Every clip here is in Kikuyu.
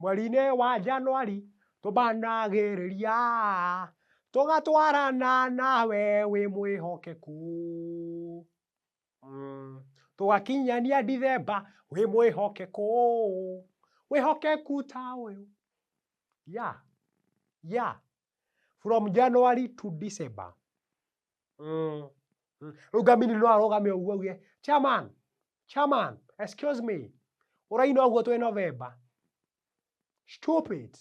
Mweri-inĩ wa Januari tũmbanagĩrĩria, tũgatwarana nawe wĩ mwĩhokeku, tũgakinyania Ndithemba wĩ mwĩhokeku, wĩhokeku ta ũyũ, yeah, yeah, from Januari to December. Mm. Mm. Rĩu ngamini no arũgame ũguo auge, chairman, chairman, excuse me, ũraina ũguo twĩ November. Stupid.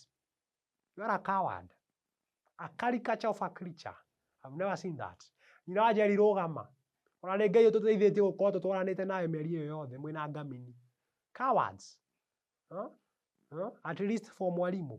You are a coward. A caricature of a creature. I've never seen that. Nyina wa Njeri rũgama. Ona nĩ Ngai ũtũteithĩtie gũkorwo tũtwaranĩte nawe mĩeri ĩyo yothe mwĩna ngamini. Cowards. Huh? Huh? At least for mwarimũ.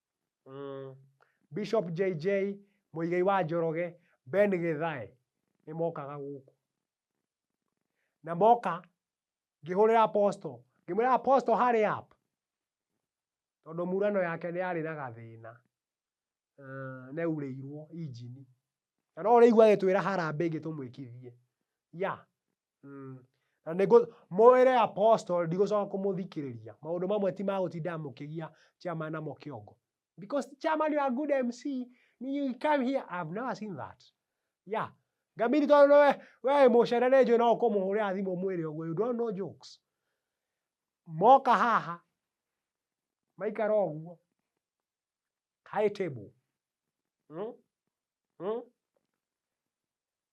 Bishop JJ, Mũigai wa Njoroge, Ben Gĩthae, nĩ mokaga gũkũ. Na moka, ngĩhũrĩra Apostle, ngĩmwĩra Apostle hurry up. Tondũ murano yake nĩ yarĩ na gathĩna, nĩ yaurĩirwo injini. Na no ũrĩigua agĩtwĩra harambĩ ĩngĩ tũmwĩkithie. Yeah. Mm. Na nĩ mũĩre apostle ndigũcoka kũmũthikĩrĩria. Maũndũ mamwe ti ma gũtindaga mũkĩgia chairman namo kĩongo. Because chairman you are good MC, you come here, I have never seen that. Yeah. Ngamiri tondũ we we mũcere nĩ njũĩ no ũkũmũhũrĩra thimũ mwĩre ũguo, you don't know jokes. Moka haha maikara ũguo High table. Mm? Mm?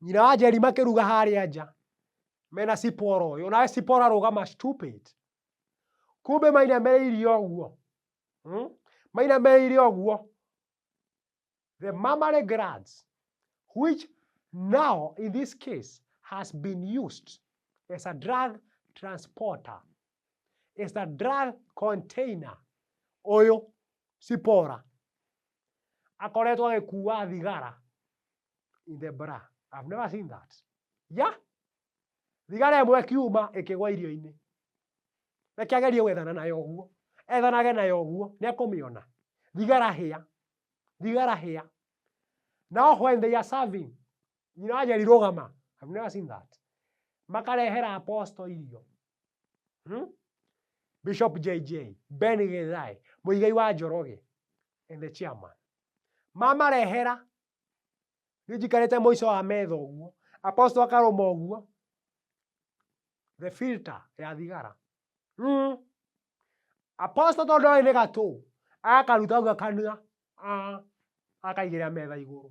Nyina wa Njeri makĩruga harĩa nja mena ciporo ũyũ nawe ciporo arũgama stupid kumbe mainamĩrĩire ũguo mm? mainamĩrĩire ũguo the mammary glands which now in this case has been used as a drug transporter is a drug container ũyũ cipora akoretwo agĩkua thigara in the bra I've never seen that ya thigara ĩmwe kiuma ĩkĩgwa irio-inĩ reke agerie gwethana nayo ũguo ethanage nayo ũguo nĩ ekũmĩona thigara hĩa thigara hĩa now when they are serving nyina wanja rirũgama I've never seen that makarehera apostle irio hmm? Bishop JJ, Ben Githae, Muigai wa Njoroge, and the chairman. Mama rehera. Nĩ njikarĩte mũico wa metha ũguo. Apostle akarũma ũguo. The filter ya thigara. Mm. Apostle tondũ oĩ nĩ gatũ. Akaruta ũguo akanua. Ah. Akaigĩrĩra metha igũrũ.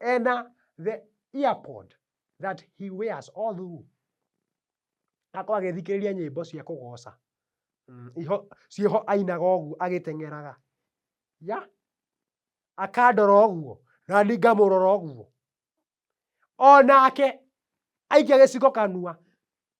And uh, the earpod that he wears all through akorwo agĩthikĩrĩria nyĩmbo cia kũgoca mm, iho ciĩho ainaga ũguo agĩteng'eraga ya akandora ũguo na ni ngamũrora ũguo o nake aikia gĩcigo kanua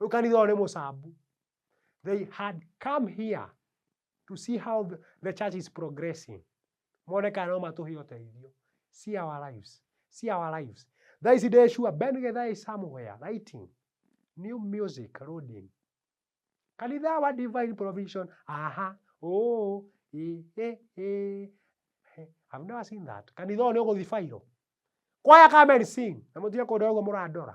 Rĩu kanitha ũyũ nĩ mũcambu. They had come here to see how the, the church is progressing. Mone kana no matũhe ũteithio. See our lives. See our lives. Thaa ici ndĩ sure Ben Githae is somewhere writing new music loading. Kanitha wa divine provision. Aha. Oh. Eh, eh, eh. I've never seen that. Kanitha ũyũ nĩ ũgũthibairwo. Kwaya come and sing. Na mũtige kũndora ũguo mũrandora.